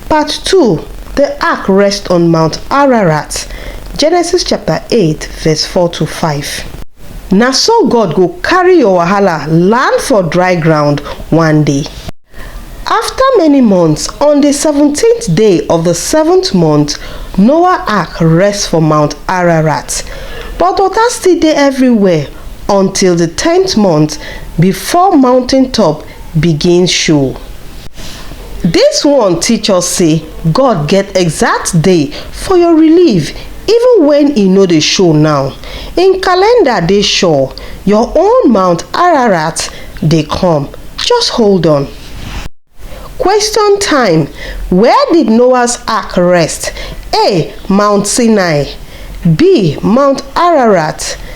Part two The ark rests on Mount Ararat, Genesis chapter 8, verse 4 to 5. Na so God go carry your wahala land for dry ground one day. After many months, on the 17th day of the seventh month, Noah ark rests for Mount Ararat. But water still dey everywhere until the tenth month before mountain top begin show. Dis one teach us sey God get exact day for your relief even wen e no dey show now. Im calendar dey sure, your own Mount Ararat dey come, just hold on. Question time, Where did Noah's ark rest? A. Mount Sinai B. Mount Ararat